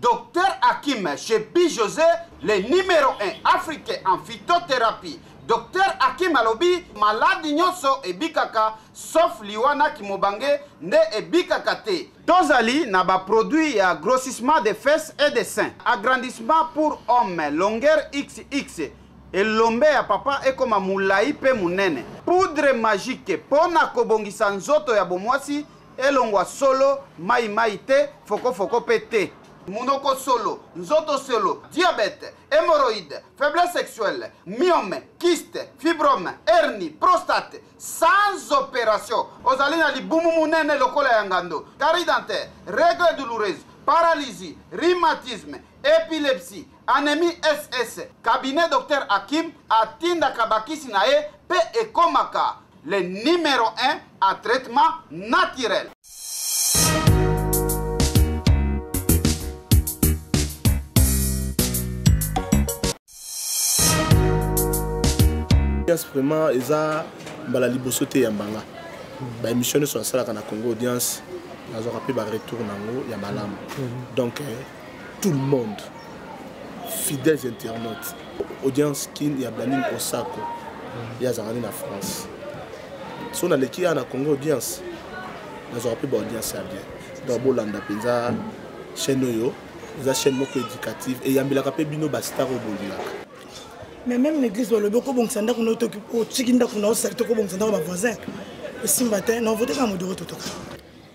Docteur Hakim Shebi Jose le numero 1 africain en phytothérapie. Docteur Hakim alobi maladi nyonso ebikaka sauf liwa na kimobange nde ebikaka te. Tozali na ba produits ya grossissement des fesses et des seins, agrandissement pour homme, longueur xx, elombe ya papa ekoma mulayi pe munene, poudre magique pona kobongisa nzoto ya bomwasi Elongwa solo, mayi mayi te, foko foko pe te. Munoko solo, nzoto solo, diabète, hemorroïde, faiblesse sexuelle, myome, kyste, fibrome, hernie, prostate, sans operation. Ozali na libumu munene lokola ya ngando, carie dentaire, règles douloureuses, paralysie, rhumatisme, epilepsie, anemie SS. Cabinet Docteur Hakim atindaka bakisi na ye pe ekomaka. Le numero 1 a traitement naturel. Yes, vraiment eza mbala liboso te ya mbanga ba émission nyonso nasalaka na congo audience nazwaka mpe ba retour na yango ya malamu donc eh, tout le monde fidèles internautes audience kin ya blaning osako ye azalaka nde na france so naleki ya na congo audience nazwaka mpe baaudience ya bien donc bolanda mpenza chaîne oyo eza chaîne moko éducative eyambelaka mpe bino bastar oyo bolingaka mais même l'église balobi okobongisa ndako na otiki ndako na osalite okobongisa ndako bavoisin esimba te na ovoteka modoro totoka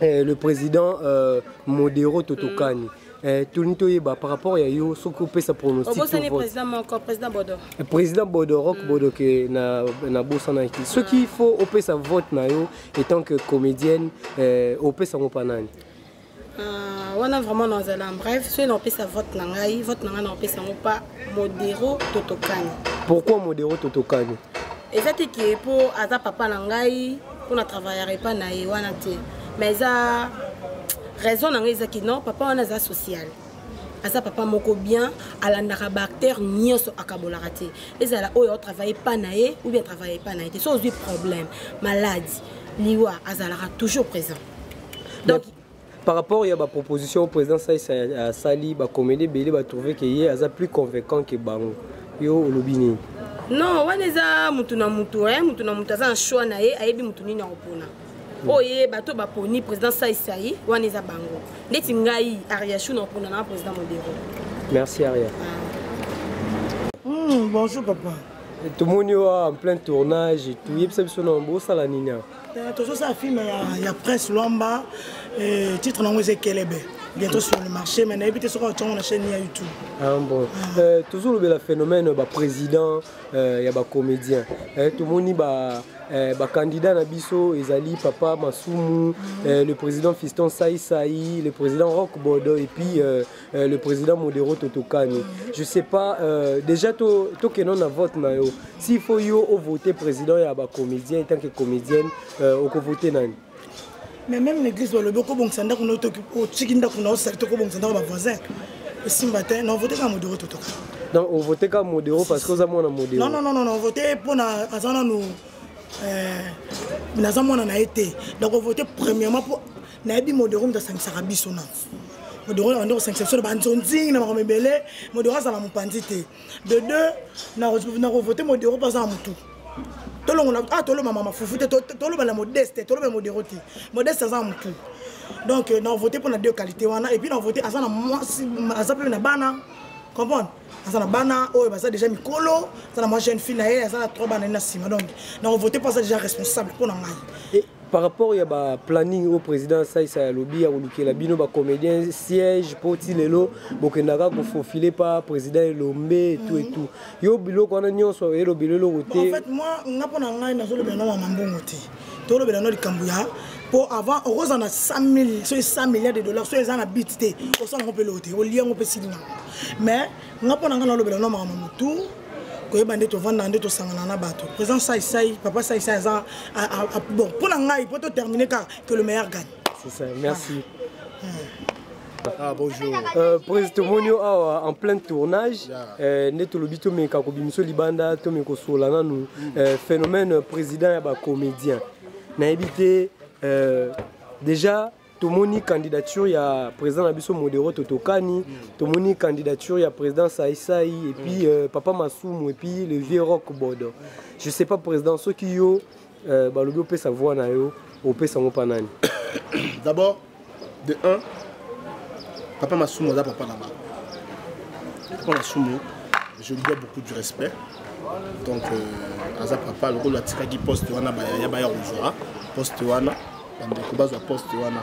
Eh, le président euh, modero totokani mm. Eh, tolini toyeba par rapport ya yo soki opesa pronosticprésident bodorok mm. bodoke nabosanaki soki faut opesa vote na yo étant que comédienne eh, opesa yango mpa nani ah, wana vraiment nazala en bref soki naopesa vote na ngai vote na ngai naopesa yango mpa modero totokani pourquoi modero totokani eza te ke mpo aza papa na ngai mpo na travaillaka epai na ye wana te mais eza raison na ngai ezaki non papa wana aza social aza papa moko bien alandaka baacteur nyonso akabolaka te ezala oyo atravaille epa na ye ou bien travaille epa na ye te so ozwi problème maladi liwa azalaka toujours présent donc par rapport ya baproposition oyo président sais asali bacomédie ebele batrouve ke ye aza plus convaincant ke bango yo olobi nini non wana eza motu na motu eh? motu na motu aza na choix na ye ayebi motu nini akopona hmm. oyo ye bato baponi président saisai wana eza bango ndeti ngai ariachou nakopona na président modero merci aria ah. hmm, bonjour papa tomoni oyo en plein tournage toyebisa biso na bosala nini awa Euh, tozosala film ya, ya prince lwamba euh, titre nango eza ekelebe bientôt sur le marché mais nayebi te soki aotyango na chaîne ya youtube ah, bon. ah. euh, tozolobela phénomène baprésident euh, ya bacomédien eh, tomoni ba eh, bacandidat na biso ezali papa masumu mm -hmm. eh, le président fiston saisai le président rock bodo et puis euh, Euh, le président modero totokani je sais pas euh, déjà tokendon na vote na yo s'il faut yo ovote président ya bacomédien etant que comédienne euh, okovote nani mais même l'église balobi okobongisa ndako na otiki ndako na osali tokobongisa ndako bavoisin esimba te na ovote kaka modero totokani donc ovote kaka modero parce que oza mwana modero non non non ovote mpo na aza nanu naza mwana na ye te donc ovote premièrement mpo nayebi modero moto asangisaka biso na modoro nabandi kosangisa biso na banzonzingi na makambo ebele modoro azala mopanzi te de deux nakovote modoro mpo aza na motu tolongola ah toloma mama fufu te toloba na modeste toloba na modero te modeste aza motu donc euh, na vote mpo na deux qualité wana epuis na vote aza na mwasi aza mpe na bana comprendre aza na bana oyo baza déjà mikolo aza na mwa jeune fille na ye aza na trois bana ye na nsima donc na kovote mpo aza déjà responsable mpo na ngai par rapport ya baplanning oyo président saisa alobi ya kolukela bino bacomédien siège mpo ti lelo bokendaka kofofile pa président elombe etout etout yo biloko wana nyonso elobela eloko te nga mpo na ngai nazolobela na mama mbongo te tolobela no likambo ya mpo avant okozala na 100 soki 100 milliard de dollars soki eza na bit te osala yango mpe eloko te olia yango mpe sili nango mais nga mpo na ngai nalobela no makambo motu koyeba nde tovandaka nde tosangana na bato président saisai papa saisai aza bon mpo na ngai mpo totermine kaka que le meilleur gagne C'est ça, merci. Ah. Ah, bonjour. Euh, Président tomoni yo awa en plein tournage euh, nde tolobi tomeka kobimisa libanda tomeka kosola nanu mm. euh, phénomène président ya bacomédien nayebi te euh, déjà tomoni candidature ya président na biso modero totokani tomoni candidature ya président saisai epuis mm. euh, papa masumu epuis le vieux rock bodo je sais pas président soki yo Euh, balobi opesa voix na yo opesa yango mpa nani d'abord de 1 papa masumu aza papa na bango papa masumu je lui dois beaucoup du respect donc euh, aza papa lokola atikaki poste wana ya baya kozwa poste wana bandeko bazwa poste wana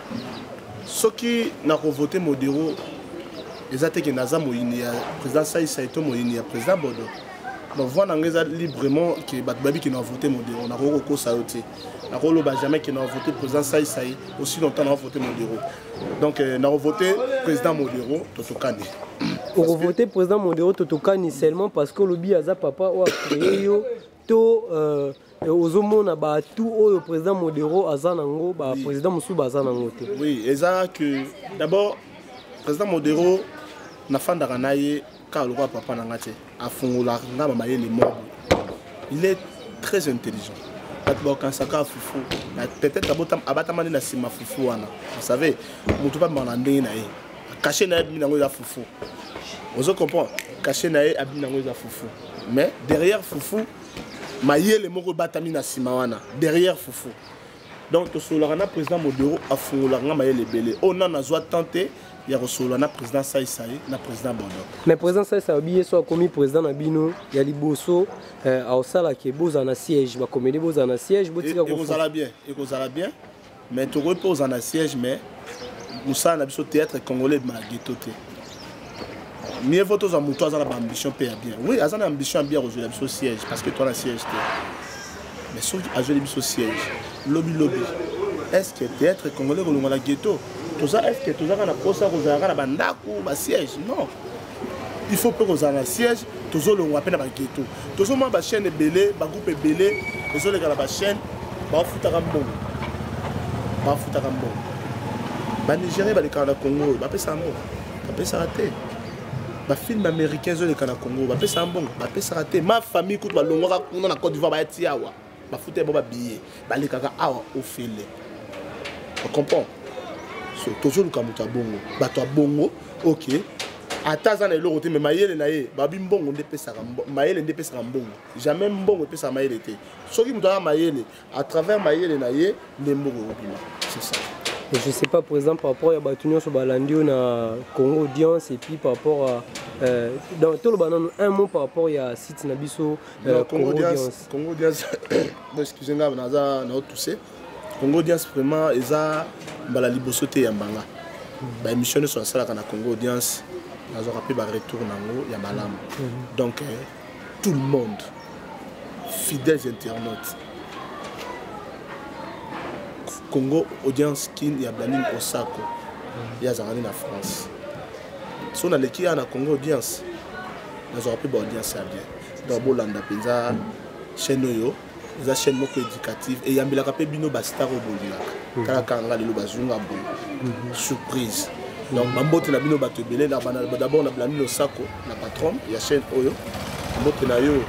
soki nakovote modero eza te ke naza moyini ya président saisai to moyini ya président bodo bavoi na ngai eza librement ke bato bayebi ke navote modero nakoki kokosa yo te nakoloba jamais ke navote président saisai aussi longtemps navote modero donc euh, nakovote président modero totokani okovote président modero totokani seulement parce que olobi aza papa oyo acreye yo to euh, ozomona batu oyo président modero aza nango baprésident mosusu baza nango te oui eza que d'abord président modero nafandaka na ye kaka lokola papa na nga te afungolaka nga bamayele moko il est très intelligent bato bakanisaka fufu peut-être abatamani na nsima fufu wana vous savez moto babimaka na ndenge na ye kashe na ye abimi nango eza fufu ozo comprendre kashe na ye abimi nango eza fufu mais derrière fufu mayele moko ebatami na nsima wana derrière fufu donc tosololaka na président modero afungolaka nga mayele ebele oyo oh, nano azwa temps te ya kosolola na président saisai na président bondo mais président saisai alobi ye so akomi président na bino ya liboso euh, aosalaka bozala na siège bakomeli bozala na siège botika e, ekozala bien ekozala bien mais tokoki mpe kozala na siège mais mosala na biso théâtre congolais ebima na geto te mieux vaut tozwa moto aza na baambition mpe ya bien oui aza na ambition ya bien akozwela biso siège parce que toa na siège te mais soki azweli biso siège lobi lobi est ce que théâtre congolais kolongola ghetto toza est ce que tozaka na mposa kozalaka na bandako basiège non il faut mpe kozala na siège tozolongwa mpe na bageto tozomona bachaîne ebele bagroupe ebele ezoleka na bachaîne bafutaka mbongo bafutaka mbongo banigérien balekaka na congo oyo bapesaka mbongo bapesaka te bafilme américain ezoleka na congo bapesaka mbongo bapesaka te ma famille kutu balongwaka kuna na cote d'ivoire bayatia awa bafuta ba babiye balekaka awa ofele ocomprend so tozoluka moto ya bongo bato ya bongo ok ata aza na eloko te me mayele na ye babi mbongo nde epesaka mayele nde epesaka mbongo jamais mbongo epesaka mayele te soki moto aza mayele à travers mayele na ye nde mbongo ekobima c'est ça Mais je sais pas, par exemple, par rapport à Batunion sur Balandio, na Congo Audience, et puis par rapport à. Euh, dans tout le banan, un mot par rapport à site Nabiso, Euh, Congo audience. Congo audience. bon, excusez moi naza na tousse. Congo audience vraiment eza mbala liboso te ya mbanga. Ba émission ne soit sala na Congo audience. Nazo rappeler ba retour nango ya malamu. Mhm. Donc euh, tout le monde fidèles internautes Congo audience kin ya Blanin Osako. Il y a Zarani en France. Si on a l'équipe à Congo audience, nous aurons plus d'audience à bien. donc bolanda mpenza chaîne oyo eza chaîne moko éducative eyambelaka mpe bino bastar oyo bolingaka mhm. tala kaka nga lelo bazwi nga boye mhm. surprise donc bambote na bino bato ebele d'abord na blami losako na patron ya chaîne oyo mbote na yo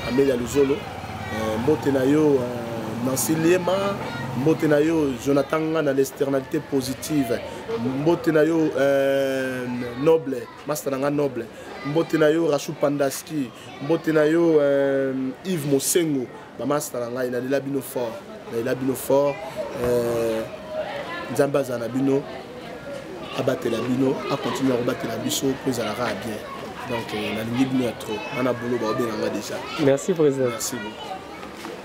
amelia luzolo euh, mbote na yo euh, nancy liema mbote na yo jonathan nga na l'externalité positive mbote na yo euh, noble masta na nga noble mbote na yo rachou pandaski mbote na yo euh, yves mosengo bamasta na ngai nalela bino fort nalela bino fort euh, nzambe azala na bino abatela bino akontinue akobatela biso mpo ezalaka ya bien donc euh, nalingi bino ya trop wana bolo baobenga nga déjà merci président merci beaucoup